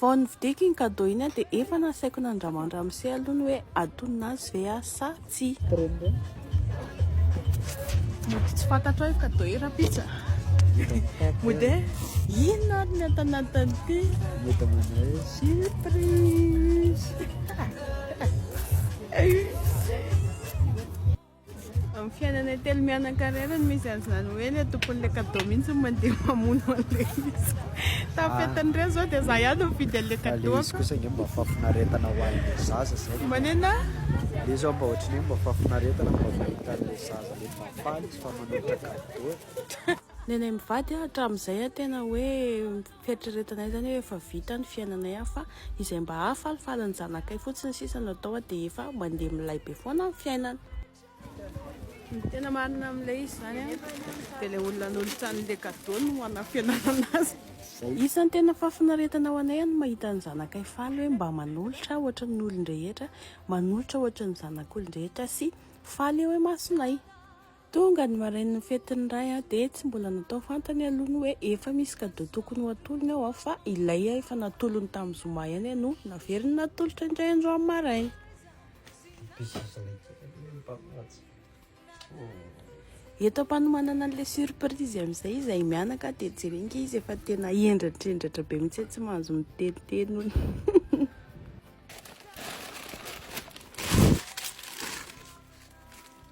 Vao nividiako iny cadeau iny aho dia efa nasaiko nandramandramose aloha ny hoe atonina azy ve aho sa tsia. Mody tsy fantatrao io cadeau io rapitsa. Mody e, inona ary ny atanatin'ity. Mody manao hoe surprise. Amin'ny fiainana telo mianakarena no misy an'izany hoe ilay tompon'ilay cadeau mihitsy no mandeha mamono an'ilay izy. Tapetin'ireo izao dia izaho ihany no mividy an'ilay Fa ilay izy cadeau-ko. kosa ange mba fahafinaretana ho an'ilay zaza izay no Manina? Ilay izy ho'a mba ohatry ny hoe mba fahafinaretana no mba mahita an'ilay zaza le mba faly izy fa manolotra cadeau e. Ny anay mivady an hatramin'izay an tena hoe. Fieritreretanay izany hoe efa vita ny fiainanay aho fa izay mba hahafalifaly ny zanakay fotsiny sisa no atao aho dia efa mandeha milay be foana ny fiainana. Ny tena marina amin'ilay izy izany an, dia ilay olona hanolotra an'ilay cadeau no hanafenana azy. Isan'ny tena fahafinaretana ho anay ny mahita ny zanakay faly hoe mba manolotra ohatry ny olon-drehetra, manolotra ohatry ny zanak'olon-drehetra sy faly eo imasonay. Tonga ny marainin'ny fety ny ray an, dia tsy mbola natao fantany aloha ny hoe efa misy cadeau tokony ho atolony ao an, fa ilay efa natolony tamin'ny zoma ihany an no naveriny natolotra indray androany maraina. Eto am-panomanana an'ilay surprise amin'izay izahay mianaka dia jereo ange izy efa tena hendratrendratra be mihitsy tsy mahazo miteniteny hono.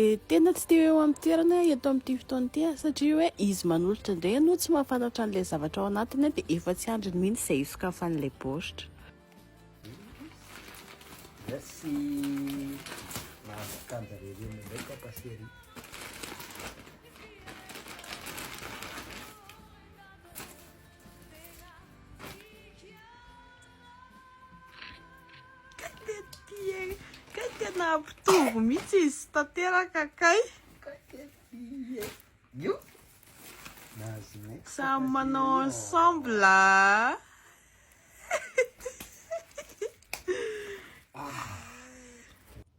dia tena tsy teo eo amin'ny toerana eto amin'ity fotoana ity satria hoe izy manolotra indray ianao tsy mahafantatra an'ilay zavatra ao anatiny dia efa tsy andriny mihitsy izay hisokafan'ilay baoritra Merci. Mahazo kanja rerena indray papa chéri. Nahampitovo mihitsy izy tanteraka kay. Io. Nahazo next. Samy manao ensemble.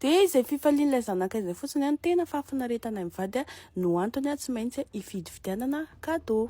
Dia izay fifalian'ilay zanakay izay fotsiny no tena fahafinaretanay mivady no antony tsy maintsy hifidy fidianana cadeau.